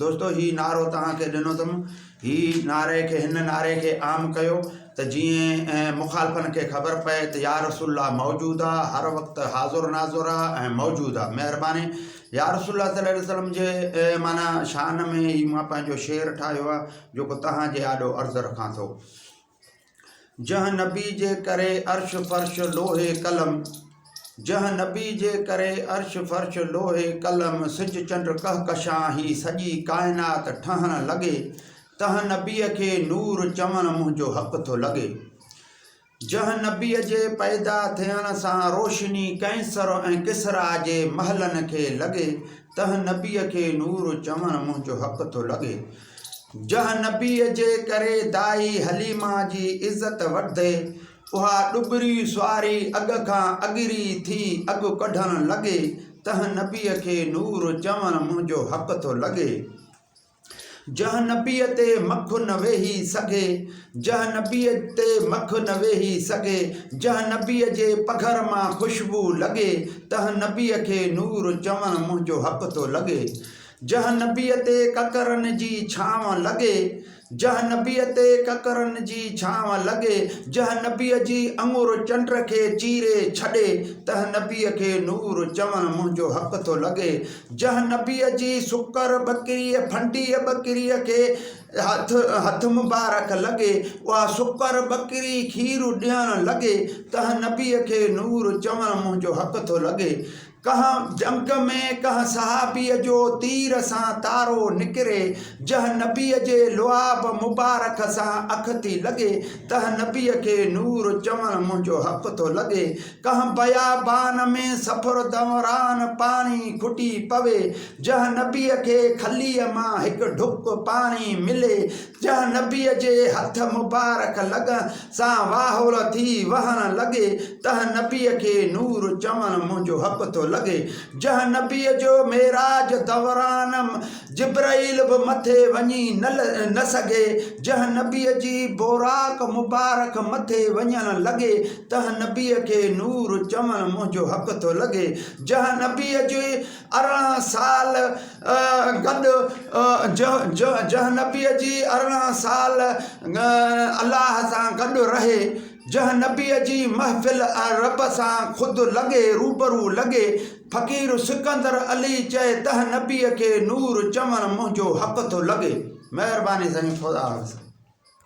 دوستو هي نعرو توهان کي ڏنو اٿم هي نعري کي هن نعري کي عام ڪيو ته جيئن مخالفن کي خبر پئي ته يا رسول الله موجود آ هر وقت حاضر ناظر آ ۽ موجود آ مهرباني يا رسول الله صلي الله عليه وسلم جي معنی شان ۾ هي مان پنهنجو شعر ٺاهيو آ جيڪو توهان جي آڏو عرض رکان ٿو جنهن نبي جي ڪري عرش فرش لوهي قلم جنهن نبي جي ڪري عرش فرش لوهي قلم سج چنڊ ڪهڪشان هي سڄي ڪائنات ٺهڻ لڳي تنهن نبي کي نور چوڻ منهنجو حق ٿو لڳي جنهن نبي جي پيدا ٿيڻ سان روشني ڪئنسر ۽ ڪسرا جي محلن کي لڳي تنهن نبي کي نور چوڻ منهنجو حق ٿو لڳي جنهن نبيء جي ڪري دائي حليمه جي عزت وڌي، اها ڏٻري سواري اڳ کان اڳري ٿي اڳ ڪڍڻ لڳي، تنهن نبيء کي نور چوڻ منهنجو حق ٿو لڳي. جنهن نبيء تي مک نه ويهي سگهي، جنهن نبيء تي مک نه ويهي سگهي، جنهن نبيء جي پگهر مان خوشبوء لڳي، تنهن نبيء کي نور چوڻ منهنجو حق ٿو لڳي. جنهن نبيء تي ڪڪرن جي ڇانو لڳي، جنهن نبيء تي ڪڪرن جي ڇانو لڳي، جنهن نبيء جي اڱر چنڊ کي چيري ڇڏي، تنهن نبيء کي نور چوڻ منهنجو حق ٿو لڳي، جنهن نبيء جي سڪر ٻڪريء، ڦنڊيء ٻڪريء کي هٿ، هٿ مبارڪ لڳي، اها سڪر ٻڪري کير ڏيڻ لڳي، تنهن نبيء کي نور چوڻ منهنجو حق ٿو لڳي. ڪنهن جنگ ۾ ڪنهن صحابيء جو تير سان تارو نڪري، جنهن نبيء جي لعاب مبارڪ سان اک ٿي لڳي، تنهن نبيء کي نور چوڻ منهنجو حق ٿو لڳي، ڪنهن بيابان ۾ سفر دؤران پاڻي کٽي پوي، جنهن نبيء کي کليء مان هڪ ڍڪ پاڻي ملي، ڄڻ نبيء جي هٿ مبارڪ لڳن سان واهول ٿي وهڻ لڳي، تنهن نبيء کي نور چوڻ منهنجو حق ٿو لڳي، جنهن نبيء جو معراج دوران جبرئيل به مٿي وڃي نه سگهي، جنهن نبيء جي بوراق مبارڪ مٿي وڃڻ لڳي، تنهن نبيء کي نور چوڻ منهنجو حق ٿو لڳي، جنهن نبيء جي ارڙهن سال گڏ جنهن نبيء جي ارڙهن سال الله سان گڏ رهي، جنهن نبيء جي محفل ۽ رب سان خود لڳي روبرو لڳي، فقير سڪندر علي چئي تنهن نبيء کي نور چوڻ منهنجو حق ٿو لڳي. مهرباني سائين خدا حافظ.